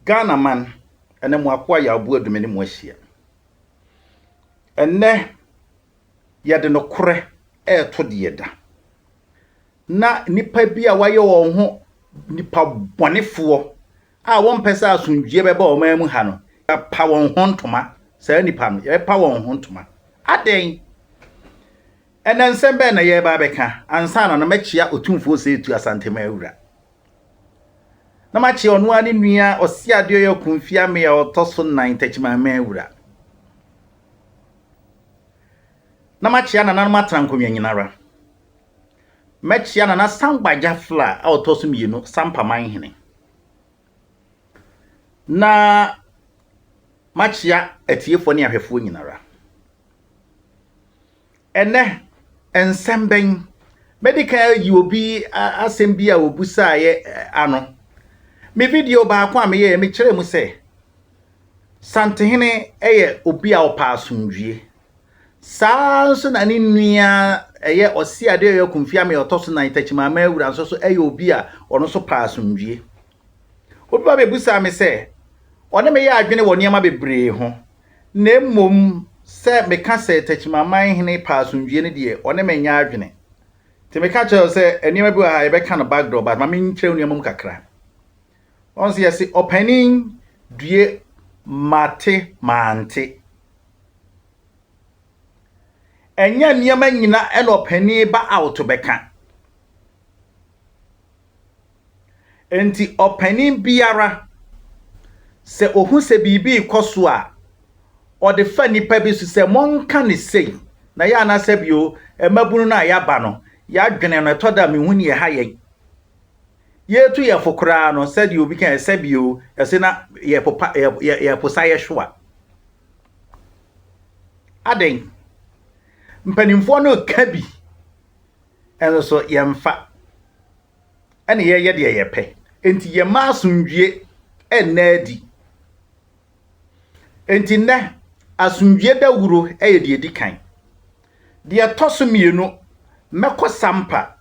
Ghana man, ɛnɛ mo akoa Yaobu Adume ne mo ahyia. Ɛnɛ yɛde nokorɛ ɛreto deɛ ɛda. Na nnipa bi a wɔayɛ wɔn ho nnipa bɔnefoɔ a wɔmpɛ sɛ asomdwoeɛ bɛba ɔman mu ha no, yɛapa wɔn ho ntoma, saa nnipa no, yɛbɛpa wɔn ho ntoma. Adɛn? Ɛnɛ nsɛm bɛn na yɛreba abɛka ansa na no mɛkyea Otumfoɔ Ɔsɛetu Asanteman Wura? na makye ɔno ara ne nua Ɔseadeɔya Kumfi Amee a ɔtɔ so nnan Takyimaman Wura. Na makyea nananom Atrankonnwa Nyinara. Mɛkyea Nana Sangba Gyafla a ɔtɔ so mmienu Sampa Manhene. Na makyea atiefoɔ ne ahwɛfoɔ nyinara. Ɛnnɛ, nsɛm bɛn? Mɛdi kan ayi obi asɛm bi a obisaeɛ ano. Me video baako a meyɛɛ, mekyerɛɛ mu sɛ, Santehene yɛ obi a ɔpɛ asomdwie. Saa nso na ne nua ɛyɛ Ɔseadeɛ Ɔyɔ Kumfi Amee ɔtɔ so nan Takyimaama Awura nso so yɛ obi a ɔno nso pɛ asomdwie. Obi ba bɛbisaa me sɛ ɔne me yɛ adwene wɔ nneɛma bebree ho, na mmom sɛ meka sɛ Takyimaman hene pɛ asomdwie no deɛ ɔne me nyɛ adwene. Nti meka kyerɛ wo sɛ nneɛma bi wɔ ha yɛbɛka no backdoor but ma menkyerɛ wo nneɛma mu kakra. Ɔn sɛ yɛse ɔpanin due mate mante. Ɛnyɛ nneɛma nyina ɛna ɔpanin ba out bɛka. Enti ɔpanin biara, sɛ ohu sɛ biribi rekɔ so a, ɔde fa nnipa bi so sɛ, Monka no sei. Na yɛ ana sɛ bio, mmabunu no a yɛaba no, yɛadwene no, ɛtɔ da a mehu nea ɛha yɛn. Yɛretu yɛn fo koraa no, sɛdeɛ obi kae sɛ bio, ɛse na yɛpopa, yɛposa yɛ hwewa. Adɛn? Mpanimfoɔ no reka bi. Ɛno so yɛmfa, ɛna yɛyɛ deɛ yɛpɛ. Enti yɛmma asomdwie nna adi. Enti nnɛ, asomdwie dawuro yɛ deɛ ɛdi kan. Deɛ ɛtɔ so mmienu, mɛkɔ Sampa,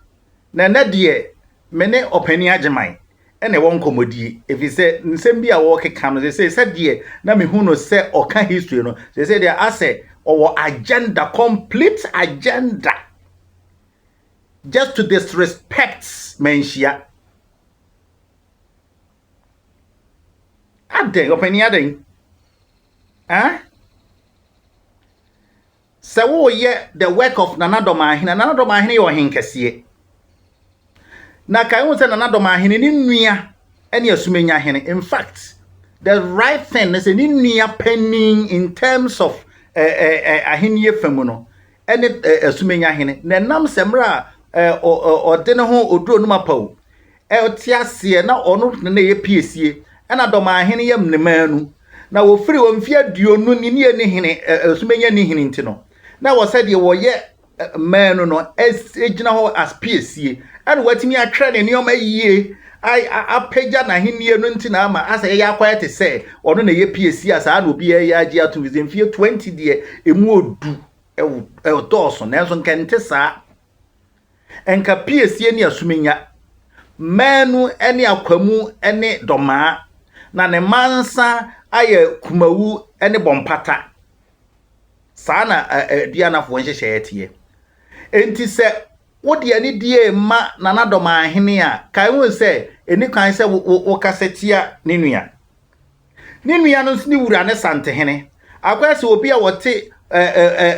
na ɛnnɛ deɛ me ne Ɔpanin Agyeman na ɛwɔ nkɔmmɔdie ɛfiri sɛ nsɛm bi a wɔrekeka no sɛsɛ sɛdeɛ na mehu no sɛ ɔka history no sɛsɛ deɛ asɛ ɔwɔ agenda complete agenda just to disrespect manhyia adɛn ɔpani adɛn ah Sɛ woreyɛ The Work of Nana Dɔmahene a, Nana Dɔmahene yɛ ɔhenkɛseɛ. Na kae ho sɛ Nana Dɔmahene, ne nua ne Asumenya Hene. In fact, the right thing ne sɛ ne nua panin in terms of eh, eh, eh, ahennie fa mu no ne eh, Asumenya Hene. Na ɛnam sɛ mmerɛ a eh, ɔ, ɔ, ɔde ne ho ɔduru onum apa o, ɔtse aseɛ na ɔno na na ɛyɛ piesie na dɔmahene yɛ mnemaa nu, na wɔfiri wɔ mfeɛ aduonu ni ne ɛni hene ɛso bɛnya ni hene nti no na wɔ sɛ deɛ wɔyɛ mmaa nu no gyina hɔ as piesie ɛna wɔatumi atwerɛ ne nneɛma yie apagya n'ahennie no nti na ama asɛ yɛyɛ akɔyɛ te sɛ ɔno na ɛyɛ piesie a saa na obi yɛ agye atom fi sɛ mfeɛ 20 deɛ ɛmu ɔdu ɛdɔɔso nanso nkɛnte saa Nka piesie ne asumenya, mmaanu ne akwamu ne dɔmaa, na ne mansa ayɛ kumawu ne bɔmpata. Saa na aduanafoɔ nhyehyɛeɛ teɛ. Enti sɛ wode anidie ma Nana Dɔmaahene a, kae ho sɛ ɛni kwan sɛ wokasa tia ne nua. Ne nua no nso ne wura ne Santehene. Akɔyɛ sɛ obi a wɔte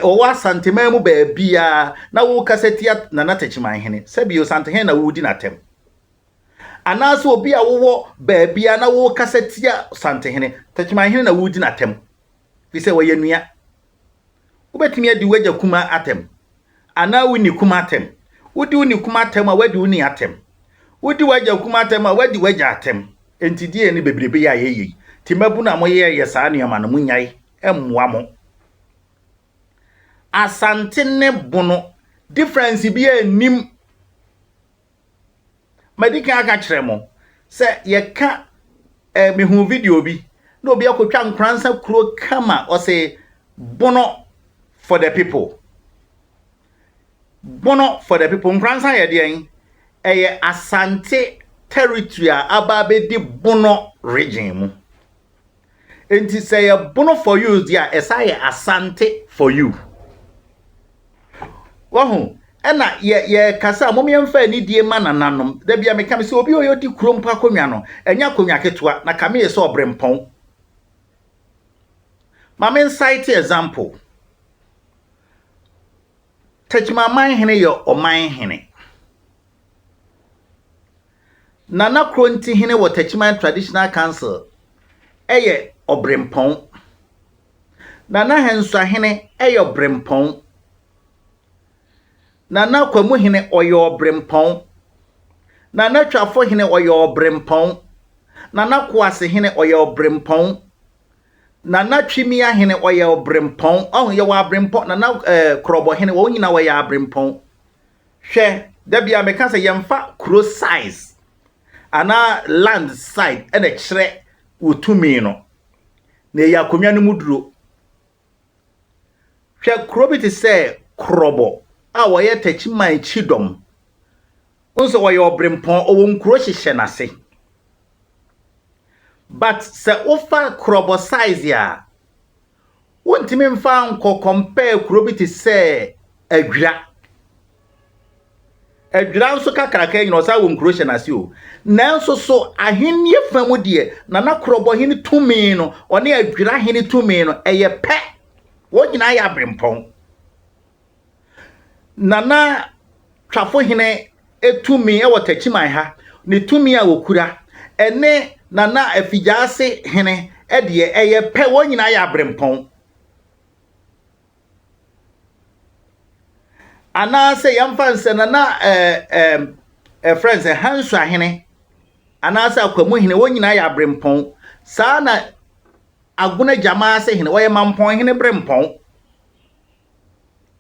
wɔwɔ Asanteman mu baabiara na wokasa tia Nana Takyimanhene. Sɛbio Santehene na wodi n'atɛm. Anaasɛ obi a wowɔ baabiara na wokasa tia Santehene. Takyimanhene na wodi n'atɛm. efisɛ wɔyɛ nua. Wobɛtumi adi w'agya kumaa atɛm anaa wo ni kumaa atɛm. Wodi wo ni kumaa atɛm a, woadi wo ni atɛm. Wodi w'agya kumaa atɛm a, woadi w'agya atɛm. Enti deɛn ne bebrebe yɛ a ɛyɛ yei? Te mmabunu a moyɛyɛ saa nneɛma no, monyae, ɛmmoa mo. Asante ne Bono, difference biara nnim. Madi kan aka akyerɛ mo sɛ yɛka eh, mehu video bi na obi akɔtwa nkoransa kuro kama ɔse bono for the people bono for the people nkoransa yɛ deɛn ɛyɛ asante territory a aba abɛdi bono region mu Enti sɛ yɛ bono for you deɛ a ɛsan yɛ asante for you. Wahu? Ɛna yɛ yɛkasa a mom yɛmfa anidie ma nananom. Da bia meka me sɛ obi ɔyɛ ɔdi kuro mpo akonnwa no ɛnyɛ akonnwa ketewa na kame yɛ sɛ ɔbrempɔn. Ma me nsite example. Techiman Manhene yɛ ɔman hene. Nana Korontihene wɔ Takyiman Traditional Council yɛ Ɔbrempɔn. Nana Hɛnsuahene yɛ Ɔbrempɔn. Nana Kwamuhene ɔyɛ Ɔbrempɔn. Nana Twafohene ɔyɛ Ɔbrempɔn. Nana Koasehene ɔyɛ Ɔbrempɔn. Nana Twimiahene ɔyɛ Ɔbrempɔn. Ɔho yɛwɔ Abrempɔn, Nana eh, Korɔbɔhene wɔn nyinaa wɔyɛ Abrempɔn. Hwɛ, da biara meka sɛ yɛmfa kuro size anaa land side ɛna ɛkyerɛ wo tumi no, na ɛyɛ akonnwa no mu duro. Hwɛ kuro bi te sɛ Krɔbɔ a wɔyɛ Takyiman kyidɔm, wohu sɛ wɔyɛ ɔbrempɔn, ɔwɔ nkuro hyehyɛ n'ase. But sɛ wofa Krɔbɔ size a, Wontumi mfa nkɔ compare kuro bi te sɛ Adwira. Adwira nso kakraka nyina ɔsan wɔ nkuro hyɛ n'ase o. Nanso so ahennie fa mu deɛ Nana Korɔbɔ hene tumi no ɔne Adwira hene tumi no ɛyɛ pɛ? Wɔn nyinaa yɛ aberempɔn. Nana Twafo Hene tumi wɔ Takyiman ha, ne tumi a ɔkura, ɛne Nana Afigyaase Hene deɛ, ɛyɛ pɛ, wɔn nyinaa yɛ aberempɔn. Anaasɛ yɛmfa nsɛ Nana ɛɛ ɛɛ ɛfrɛ nsɛ Hansua Hene anaasɛ Akwamu Hene, wɔn nyinaa yɛ aberempɔn. Saa na Agona Gyamaase Hene, wɔyɛ Mampɔn Hene berempɔn.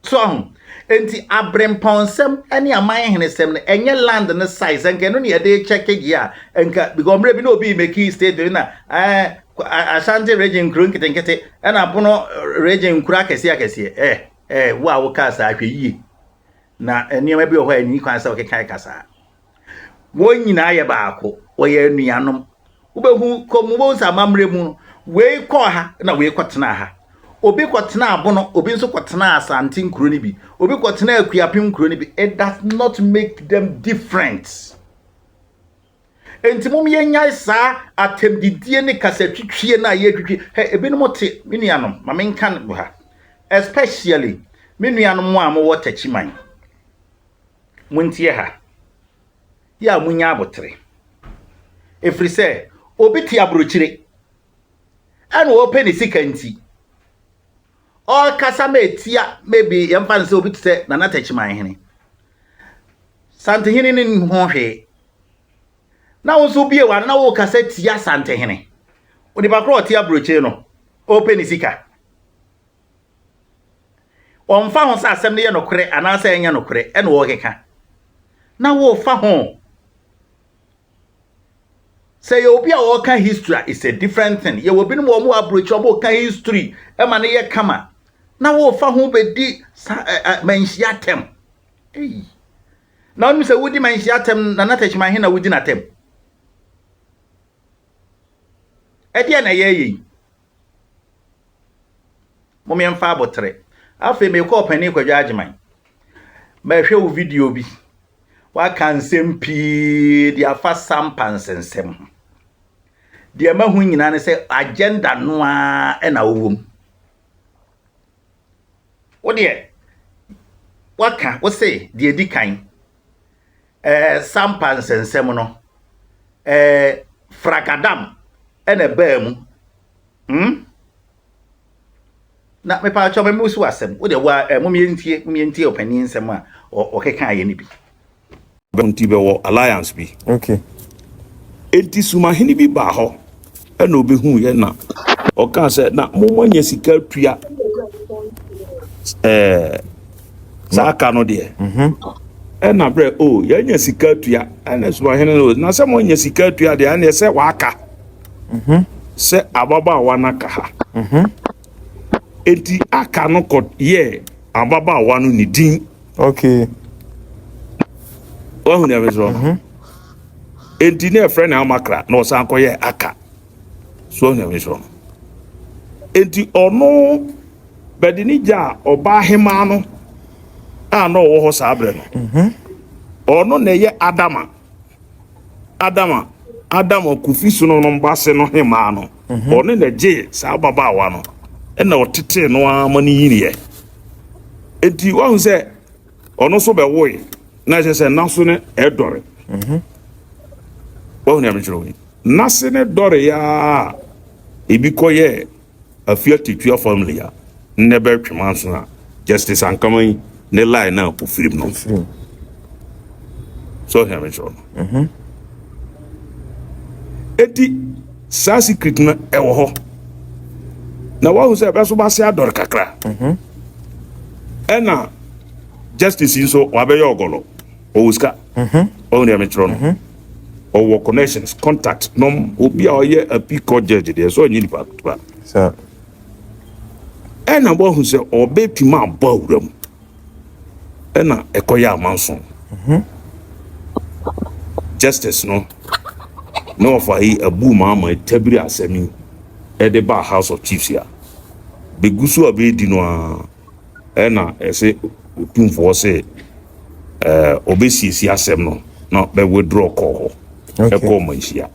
so ahu enti abrempɔnsɛm ne aman henesɛm no ɛnyɛ land no size nka ɛno ne yɛde kyɛke gye a nka because mmerɛ bi na obi mɛki state bi na eh, ashanti region nkuro nketenkete ɛna bono region nkuro akɛseɛ akɛseɛ eh, eh, wo a wokaa saa hwɛ yie na nneɛma bi wɔ hɔ a ɛni kwan sɛ ɔkeka ɛka saa Wɔn nyinaa yɛ baako. Wɔyɛ anuanom. Wobɛhu kɔ mu, wobɛhu sɛ amammerɛ mu no, wei kɔɔ ha na wei kɔtenaa ha. Obi kɔtenaa Bono, obi nso kɔtenaa Asante nkuro no bi, obi kɔtenaa Akuapem nkuro no bi. It does not make them different. Enti mom yɛnyae saa atɛmdidie ne kasatwitwie no a yɛtwitwi. Hɛ, ebinom te, me nuanom, ma menka no ha, especially me nuanom a mowɔ Takyiman. Montie ha, yɛ a munya abotere, ɛfiri sɛ obi te aburokyire, ɛna ɔpɛ ne sika nti, ɔrekasa ma ɛtia maybe yɛmfa no sɛ obi te sɛ Nana Takyiman hene, Santehene ne nim ho hwee, na wo nso wobie w'ano na worekasa tia Santehene. Onipa korɔ ɔte aburokyire no, ɔpɛ ne sika. Ɔmfa ho sɛ asɛm no yɛ nokorɛ anaasɛ ɛnyɛ nokorɛ na ɔrekeka. Na wofa ho. Sɛ yɛ obi a ɔreka history a, it's a different thing. Yɛwɔ binom wɔn wɔ aburokyerɛ wɔn reka history ma no yɛ kama. Na wofa ho bɛdi sa ɛ ɛ manhyia atɛm. Eyi. Na wonim sɛ wodi manhyia atɛm na na tɛkyima he na wodi n'atɛm. Ɛdeɛ na ɛyɛ yɛ yi. Mom yɛmfa aboterɛ. Afei mekɔ ɔpanin Kwadwo Agyeman. Mɛhwɛ wo video bi. Waka nsɛm pii de afa Sampa nsensɛm ho. Deɛ mahu nyinaa ne sɛ agenda no ara na wowɔ mu. Wo deɛ, waka, wo se deɛ ɛdi kan. Ɛɛ Sampa nsɛnsɛm no, ɛɛ Fragadam ɛna ɛbaa mu. Hmm? Na mepaakyɛw mɛmɛ wosi w'asɛm, wo deɛ woa ɛɛ momeɛ ntie, momeɛ ntie ɔpanin nsɛm a ɔkeka yɛ no bi. Nti bɛwɔ alliance bi. Okay. Enti sumahene bi baa hɔ. ɛna ɔbɛhuu yɛ na ɔkaa sɛ na momma nya sika atua ɛɛ saa ka no deɛ mhm. ɛna berɛ o oh, yɛanya sika atua ɛna sumahene no na sɛ moanya sika atua deɛ ɛneɛ sɛ waaka mhm. sɛ ababaawa no aka ha mhm. enti aka no kɔ yɛ ababaawa no ne din okay wahu deɛ mesrɛ no Enti na ɛfrɛ no Amakra na ɔsan kɔyɛ Aka so onyame so no. Enti ɔno bɛde ne gya a ɔbaa hemaa no a na ɔwɔ hɔ saa berɛ no mhm. ɔno na ɛyɛ Adama Adama Adama Kofi Sono no mbase no hemaa no mhm. ɔno na gyee saa ababaawa no ɛna ɔtetee no ara ma no yiniɛ enti wahu sɛ ɔno nso bɛwoe na ɛkyɛ sɛ naso no ɛdɔre mhm. wahu nea mekyerɛ wo yi nase ne dɔre a ebi kɔyɛ afia tetua family a nnɛ bɛtwe manso a justice ankama yi ne line na ofirim no so ɔhwɛ me kyerɛ no mhm. eti saa secret no ɛwɔ hɔ na wahu sɛ ɛbɛso ba se adɔre kakra mhm. ɛna justice yi nso wabɛyɛ ɔgɔlɔ ɔwɔ sika ɔwɔ nea mekyerɛ no ɔwɔ connections contact nom obi a ɔyɛ api court judge deɛ sɛ ɔnyɛ nipa ketewa ɛna wahu sɛ ɔbɛtumi abɔ awura mu ɛna ɛkɔyɛ amanso justice no na ɔfa yi abu maama tabiri asɛm yi ɛde ba house of chiefs a bɛgu so a bɛredi no a Ɛna ɛse otumfoɔ se ɛɛ ɔbɛsiesie asɛm no na bɛ withdraw kɔɔ hɔ ɛkɔɔ manhyia.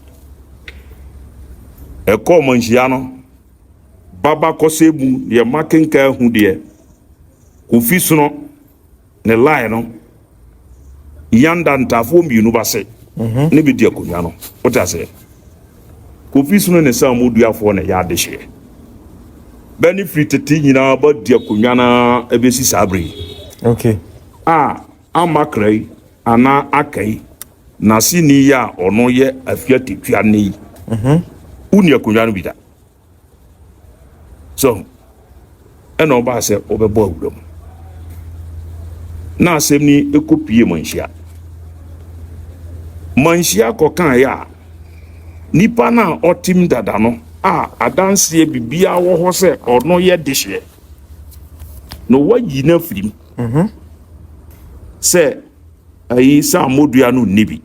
Ɛkɔɔ manhyia no baba kɔsɛɛ mu deɛ makenkan ahu deɛ Kofi Sono. ne line no yanda ntaafoɔ mmienu ba se ne bɛdi akonnwa no wote aseɛ kofi sono ne saa mu duafoɔ na ɛyɛ adehyeɛ bɛ ne firi tete nyinaa ba di akonnwa no ɛbɛsi saa bere yi okay. a amakra yi anaa aka yi n'aseni yi a ɔno yɛ afia tetwa ne yi wonni akonnwa no bi da So ɛna ɔbaa sɛ wɔbɛbɔ awura mu na asɛm ni ɛkɔ pie manhyia manhyia kɔkaeɛ a nipa no a ɔtem dada no a adanseɛ biribiaa wɔ hɔ sɛ ɔno yɛ dehyeɛ na wayi no afirim mhm. sɛ ayi sɛ ammɔdua no nni bi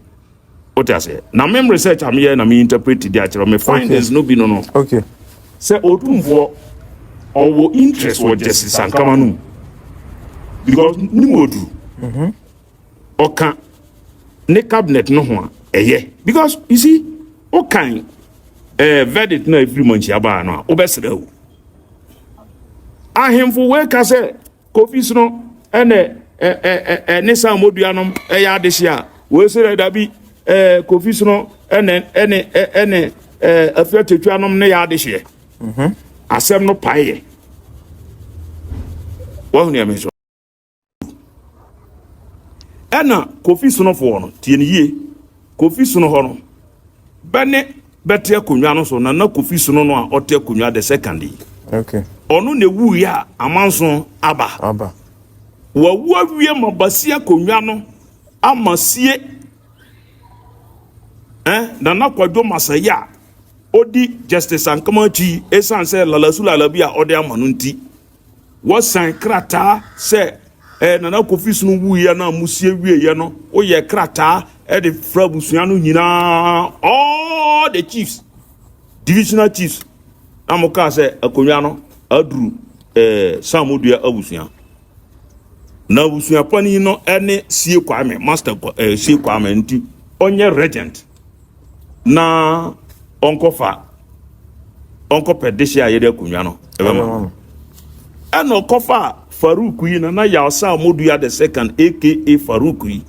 Wote aseɛ? Na mem research a meyɛ na me interpret de akyerɛ me findings no bi no no. Okay. Sɛ Otumfoɔ ɔwɔ interest wɔ Gyasi Sankama no mu because ne mu ɔduru. Mhm. Ɔka ne cabinet no ho a ɛyɛ because you see wokan eh, verdict no a ɛfiri mu anhyia baa no a wobɛsrɛ o. Ahemfo wei ka sɛ kofi sono ɛnɛ ɛɛ ne san modua nom ɛyɛ adehye a wɔsi dɛ dabi ɛɛ kofi sono ɛnɛ ɛne ɛne ɛɛ afia tetwa nom ne yɛ adehyeɛ mhm. asɛm no pae yɛ wɔn nea mi so ɛna kofi sonofoɔ no tie ne yie kofi sono hɔ no bɛne. bɛte akonnwa no so Nana Kofi Sono no a ɔte akonnwa the second yi. Okay. Ɔno na ewu yɛ a amanso aba. Aba. Wawu awie ma basi akonnwa no ama sie. Eh, Nana Kwadwo Masaya a odi Justice Ankama akyi esan sɛ lalasu lalabi a ɔde ama no nti. Wɔsan krataa sɛ ɛɛ Nana Kofi Sunu wuiɛ no a musie wieɛ no, woyɛɛ krataa de frɛ abusua no nyinaa, all the chiefs, divisional chiefs, na mo kaa sɛ akonnwa no aduru ɛɛ Samodua abusua. Na abusua panin no ne Sie Kwame, Master ɛɛ Sie Kwame nti ɔnyɛ regent. na ɔnkɔfa ɔnkɔpɛ dehye a yɛde akonnwa no ɛbɛma no ɛna ɔkɔfa farouk yi na na yalsa ɔmodua the second aka farouk yi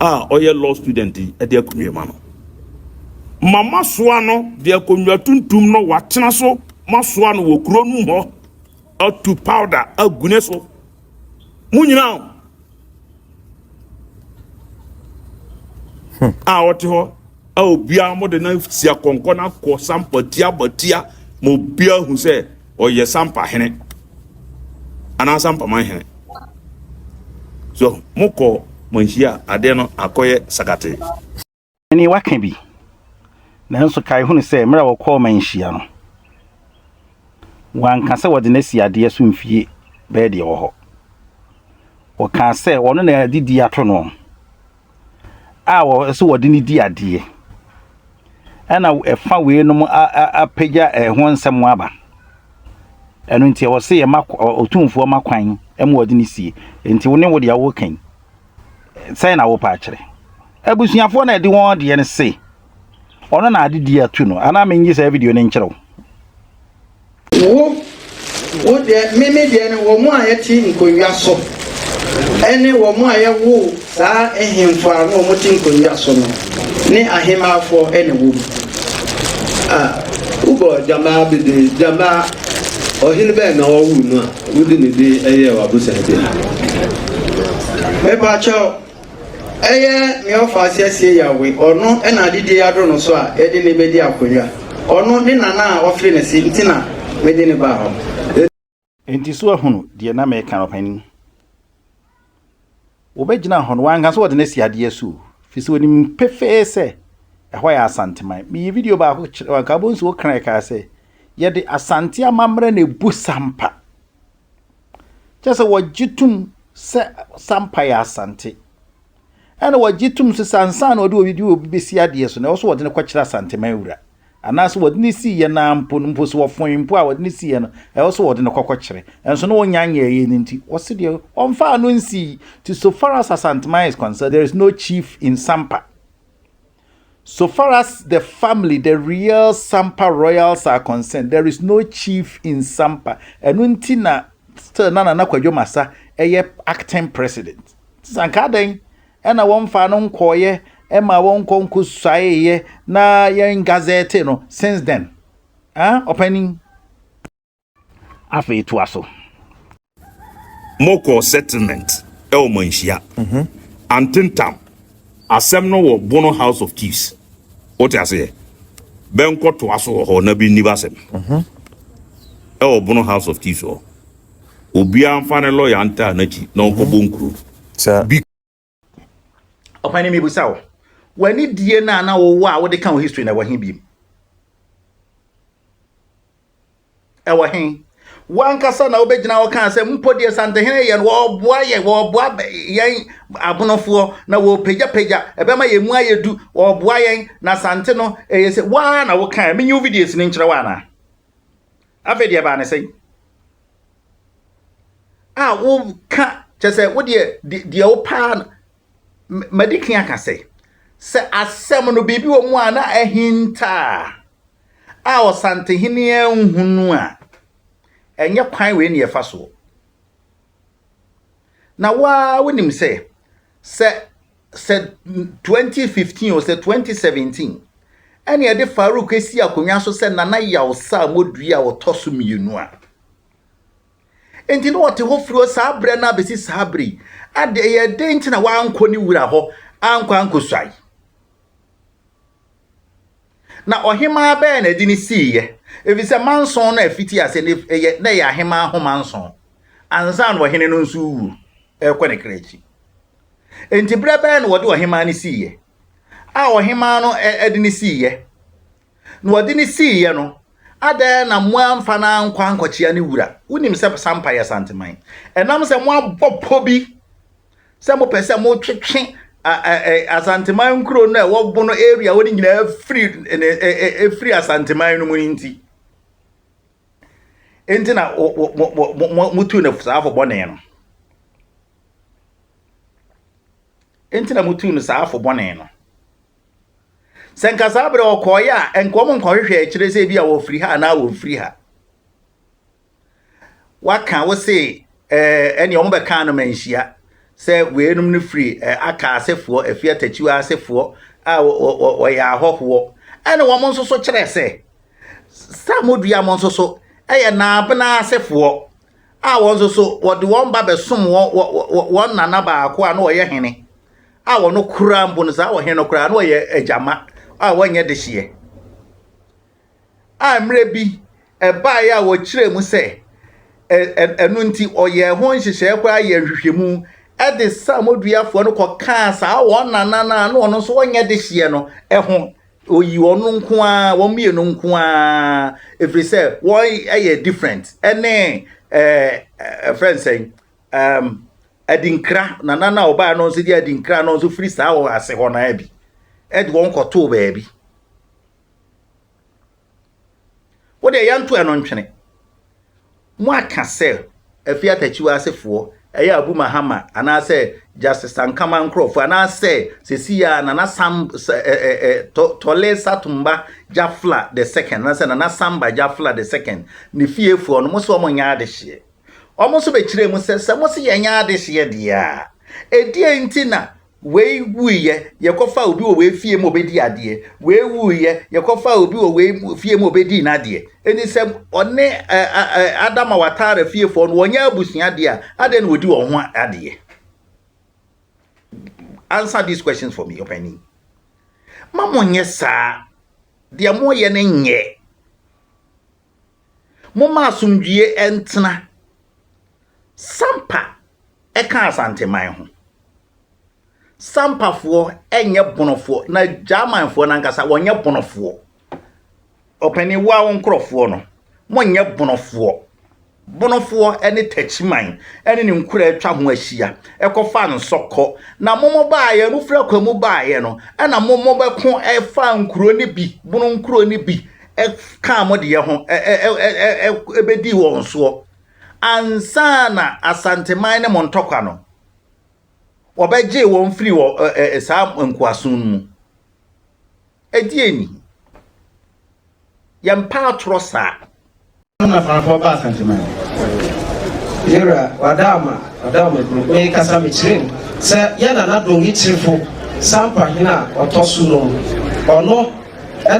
a ɔyɛ law student yi ɛde akonnwa ma no ma masoa no de akonnwa tuntum no watena so masoa no wɔ kuro no mu hɔ atu powder agu ne so mo nyinaa o hmm. a ɔte hɔ a obiara mo de na sia kɔnkɔ na kɔ sampa tia batia ma obiara hu sɛ ɔyɛ sampa hene anaa sampa man hene so mo kɔ mo nhyia adeɛ no akɔyɛ sakatee. Ɛnde woaka bi. Nanso kae hunu sɛ mmerɛ a wɔkɔɔ manhyia no, wɔanka sɛ wɔde no asi adeɛ so mfie bɛyɛ deɛ ɛwɔ hɔ. Wɔkaa sɛ wɔno na ɛde di ato no a ɛsɛ wɔde no di adeɛ. Ɛna ɛfa weinom apagya ɛho nsɛm aba. Ɛno nti ɛwɔ sɛ yɛma ɔtumfoɔ ma kwan ma wɔde no sie. Nti wo ne wo deɛ wokan. sɛn na wopɛ akyerɛ abusuafoɔ na ɛde wɔn deɛ no se ɔno na ade di atu no anaa menyi saa video no nkyerɛ wo wo wo deɛ meme deɛ no wɔn a yɛte nkonnwa so ɛne wɔn a yɛwo saa ahemfo a na wɔn te nkonnwa so no ne ahemafo ɛna wɔ mu a wobɔ gyamaa bebree gyamaa ɔhene bɛn na ɔwo no a Wode ne din yɛɛ w'abosantia. Mepakyɛw, ɛyɛ nea ɔfa aseɛ sie Yawe, ɔno na adedie adoro no so a yɛde no bɛdi akonnwa, ɔno ne nana a ɔfee no se nti na mede no baa hɔ. Enti so ahunu deɛ na mereka no, ɔpanin? Wɔbɛgyinaa hɔ no, wanka sɛ wɔde no asi adeɛ so o, firi sɛ ɔnim pefee sɛ ɛhɔ yɛ Asanteman. Meyii video baako kyerɛɛ wɔn, anka wobɛhu sɛ Okran ɛkaa sɛ, Yɛde Asante amammerɛ na ɛbu Sampa. Kyerɛ sɛ wɔgye tom sɛ Sampa yɛ Asante. Ɛna wɔgye tom nso sɛ ansa na wɔde obi de obi bɛsi adeɛ so no, ɛwɔ sɛ wɔde no kɔkyerɛ Asanteman wura. anaasɛ wɔde no sii yɛn ara mpo no, mpo sɛ wɔfoe mpo a wɔde no sii yɛn no, ɛwɔ sɛ wɔde no kɔkɔkyerɛ. Ɛnso na wɔnya nyɛɛ yɛn no nti, wɔse deɛ wɔmfaa no nsii. Nti so far as Asanteman is concerned, there is no chief in Sampa. So far as the family, the real Sampa royals are concerned, there is no chief in Sampa. Ɛno nti na still na Nana Kwadwo Masa ɛyɛ acting president. Sɛ anka adɛn Ɛna wɔmfaa no nkɔeɛ ɛmaa wɔnkɔ nkɔsuaeɛ na yɛn gazɛte no since then ah ɔpanin afei toa so. Mokɔɔ settlement ɛwɔ manhyia mhm. antentam asɛm no wɔ bono house of chiefs wote aseɛ bɛnkɔ toa so wɔ hɔ na bi nni basɛm mhm. ɛwɔ bono house of chiefs hɔ. Obiara nfa ne lɔya ntaa n'akyi na ɔnkɔbɔ nkuro. Bi. Ɔpani mebisa wo, w'ani die no a na wowɔ a wode ka wo history na ɛwɔ he biem? Ɛwɔ he? Wankasa na wobɛgyina hɔ kaa sɛ mpo deɛ Santehene yɛ no wɔboa yɛ wɔboa yɛn abonofoɔ na wɔpagyapagya ɛbɛma yɛn mu ayɛ du wɔboa yɛn na Sante no ɛyɛ sɛ waa na wokaa menyi wo videos no nkyerɛ wo anaa? Afei deɛ ɛbaa ne sɛn? A woka kyɛ sɛ wodeɛ deɛ wopaa no madi kan aka sɛ sɛ asɛm no biribi wɔ mu a na ahinta a ɔsantehene anhunu a ɛnyɛ kwan wei ne ɛfa soɔ na waa wonim sɛ sɛ sɛ 2015 o sɛ 2017 ɛne ɛde Farouk si akonnwa so sɛ Nana Yawsa Modui a ɔtɔ so mmienu a enti na ɔte hɔ firi saa berɛ no abɛsi saa berɛ yi ade ɛyɛ dɛn nti na wankɔ ne wura hɔ ankɔ ankɔsuae na ɔhemaa bɛyɛ na ɛde ne siiɛ ɛfiri sɛ manson no afiti ase ne ɛyɛ na ɛyɛ ahemaa ho manson ansa na ɔhene no nso wuo ɛrekɔ ne kra akyi Enti berɛ bɛn na wɔde ɔhemaa no siiɛ? A Ɔhemaa no de no siiɛ. Na wɔde no siiɛ no, adɛn na moamfa no ankɔ ankɔkyea ne wura? Wonim sɛ Sampa yɛ Santeman. Ɛnam sɛ moabɔ pɔ bi sɛ mopɛ sɛ motwetwe Asanteman nkuro no a ɛwɔ Bono area hɔ no nyinaa firi ɛfiri Asanteman no mu no nti. Enti na motu no saa afɔbɔne no. Enti na motuu no saa fo bɔne no. Sɛ nka saa berɛ ɔkɔɔeɛ a, ɛnka wɔn nkɔhwehwɛ akyire sɛ ebi a wɔfiri ha anaa wɔmfiri ha. Waka wo se ɛne wɔn bɛkaa no manhyia sɛ weinom no firi aka asefoɔ, afie atakyiwa asefoɔ a wɔyɛ ahɔhoɔ. Ɛne wɔn nso so kyerɛ sɛ, saa modua mo nso so ɛyɛ naabena asefoɔ. a wɔn nso so wɔde wɔn ba bɛsom wɔn wɔn nana baako a na ɔyɛ hene a wɔn kura mpo no saa ɔhene no kura na ɔyɛ agyama a wɔnyɛ dehyeɛ a mmerɛ bi ɛbaeɛ a wɔkyerɛ mu sɛ ɛno nti ɔyɛ ho nhyehyɛeɛ koraa yɛ nhwehwɛmu ɛde samodwiafoɔ no kɔkaa saa wɔn nana no a na ɔno nso wɔnyɛ dehyeɛ no ho Oyi wɔn nko ara, wɔn mmienu nko ara, ɛfiri sɛ wɔyɛ different ɛne ɛfrɛ eh, nsɛn um, adinkra nana no a ɔbaa no nso de adinkra no nso firi saa wɔ ase hɔ no bi ɛde wɔn kɔtoo baabi Wo deɛ yɛnto ɛno ntwene. Mo aka sɛ Afie Atakyiwa asefoɔ ɛyɛ Abu Mahama anaasɛ Justice Sankama nkorɔfoɔ anaasɛ sesii ara Nana Sam Tole Satumba Jafla the second anaasɛ Nana Samba Jafla the second ne fiefoɔ no mo se wɔn nyɛ adehyeɛ. Wɔn nso bɛkyerɛɛ mu sɛ sɛ mo se yɛnyɛ adehyeɛ deɛ a ɛdeɛn nti na Wei wuiɛ, yɛkɔfaa obi wɔ wei fie ma ɔbɛdii adeɛ. Wei wuiɛ, yɛkɔfaa obi wɔ wei fie ma ɔbɛdii n'adeɛ. Enti sɛ ɔne ɛ, ɛ, ɛ, Adama Watara fiefoɔ no, wɔnyɛ abusua deɛ a, adɛn na wɔdi wɔn ho adeɛ? Answer these questions for me, ɔpanin. Mma monyɛ saa. Deɛ moyɛ no nyɛ. Momma asomdwoeɛ ntena. Sampa ka Asanteman ho. Sampafoɔ nyɛ Bonofoɔ, na Gyamanfoɔ no ankasa, wɔnyɛ Bonofoɔ. Ɔpanin, wo ara wo nkurɔfoɔ no, monyɛ Bonofoɔ. Bonofoɔ ne Takyiman ne ne nkuraa atwa ho ahyia kɔfa nsɔ kɔ, na mo mo baeɛ, mo firi akwan mu baeɛ no, ɛna mo mo bɛko faa nkuro no bi, Bono nkuro no bi, kaa mo deɛ ho bɛdii wɔn soɔ, ansa na Asanteman ne mo ntɔkwa no, wɔbɛgyee wɔn firii wɔ saa nkoasom no mu. Ɛdeɛn ni? Yɛmpa atorɔ saa. Hɔ na Farakɔ ba Asante man. Yewura Wadaama, Wadaama kuro. Me kasa me kyerɛ mu sɛ yɛ Nana Dongi Kyerefo Sampa hene a ɔtɔ so num. Ɔno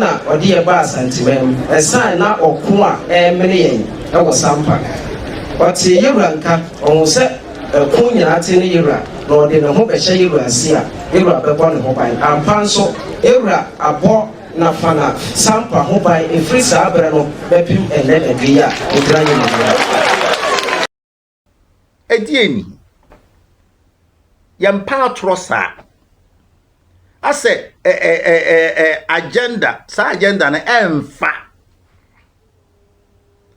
na ɔde yɛ ba Asante man mu ɛsan na ɔko a ɛremene yɛn wɔ Sampa. Ɔtee Yewura nka, ɔhuu sɛ. Ɛko nyinaa te ne yewura, na ɔde ne ho bɛhyɛ yewura nse a, yewura bɛbɔ ne ho ban. Ampa nso, yewura abɔ Nafana Sampa ho ban ɛfiri saa berɛ no bɛpem ɛnnɛ da dwe yi a ɔgyina yɛn anim yi. Ɛdeɛn ni? Yɛmpa atorɔ saa. Asɛ ɛ ɛ ɛ ɛ ɛ agenda, saa agenda no ɛmfa.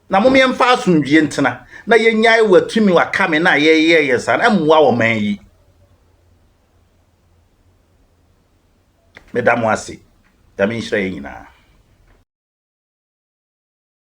na mom yɛmfa asomdwie ntena na yɛnyae watumi wakame no a yɛyɛ yɛn saa no mmoa ɔman yi meda mo ase nyame nhyira yɛn nyinaa